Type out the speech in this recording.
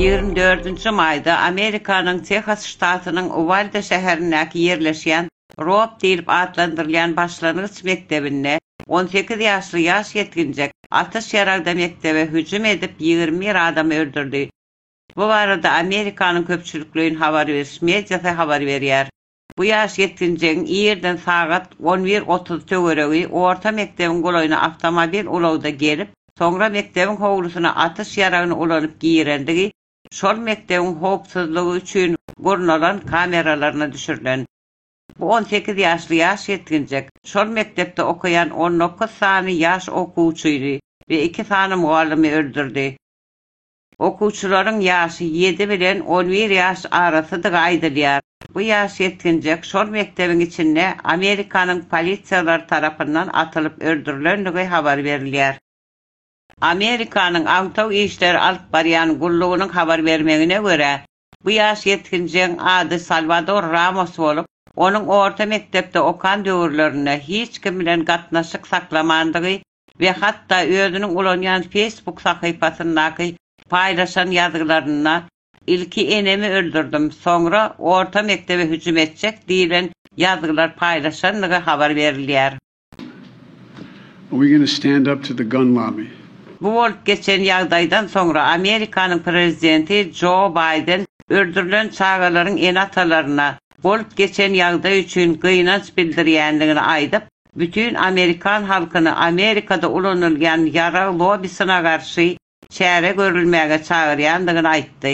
Ýigrimi dördünji maýda Amerikanyň Tehas ştatynyň Uwalde şäherindäki ýerleşýän Rob diýlip atlandyrylýan başlangyç mekdebinde on sekiz ýaşly ýaş ýetginjek atyş ýaragda mekdebe hüjüm edip ýigrimi bir adamy öldürdi. Bu barada Amerikanyň köpçülikleýin habar beriş mediasy habar berýär. Bu ýaş ýetginjegiň irden sagat on bir otuz töweregi orta mekdebiň golaýyna awtomobil ulagda gelip, soňra mekdebiň howlusyna atyş ýaragyny ulanyp girendigi şol mekdebiň howpsuzlygy üçin gurnalan kameralaryna düşürilen. Bu on sekiz ýaşly ýaş ýetginjek şol mekdepde okaýan on dokuz sany ýaş okuwçyny we iki sany mugallymy öldürdi. Okuwçylaryň ýaşy ýedi bilen on bir ýaş arasydygy aýdylýar. Bu ýaş ýetginjek şol mekdebiň içinde Amerikanyň polisiýalary tarapyndan atylyp öldürilendigi habar berilýär. Amerikanyň agtaw işleri alyp barýan gullugynyň habar bermegine görä, Bu ýaş ýetginjegiň ady Salwador Ramos bolup, onuň orta mekdepde okan döwürlerinde hiç kim bilen gatnaşyk saklamandygy we hatda özüniň ulanýan Facebook sahypasyndaky paýlaşan ýazgylarynda Ilki enemi öldürdim, soňra orta mekdebe hüjüm etjek diýlen ýazgylar paýlaşandygy habar berilýär. Bu bolup geçen ýagdaýdan soňra Amerikanyň prezidenti Jo Baýden öldürilen çagalaryň ene-atalaryna bolup geçen ýagdaý üçin gynanç bildirýändigini aýdyp, bütin amerikan halkyny Amerikada ulanylýan ýarag lobbisyna garşy çäre görülmäge çagyrýandygyny aýtdy.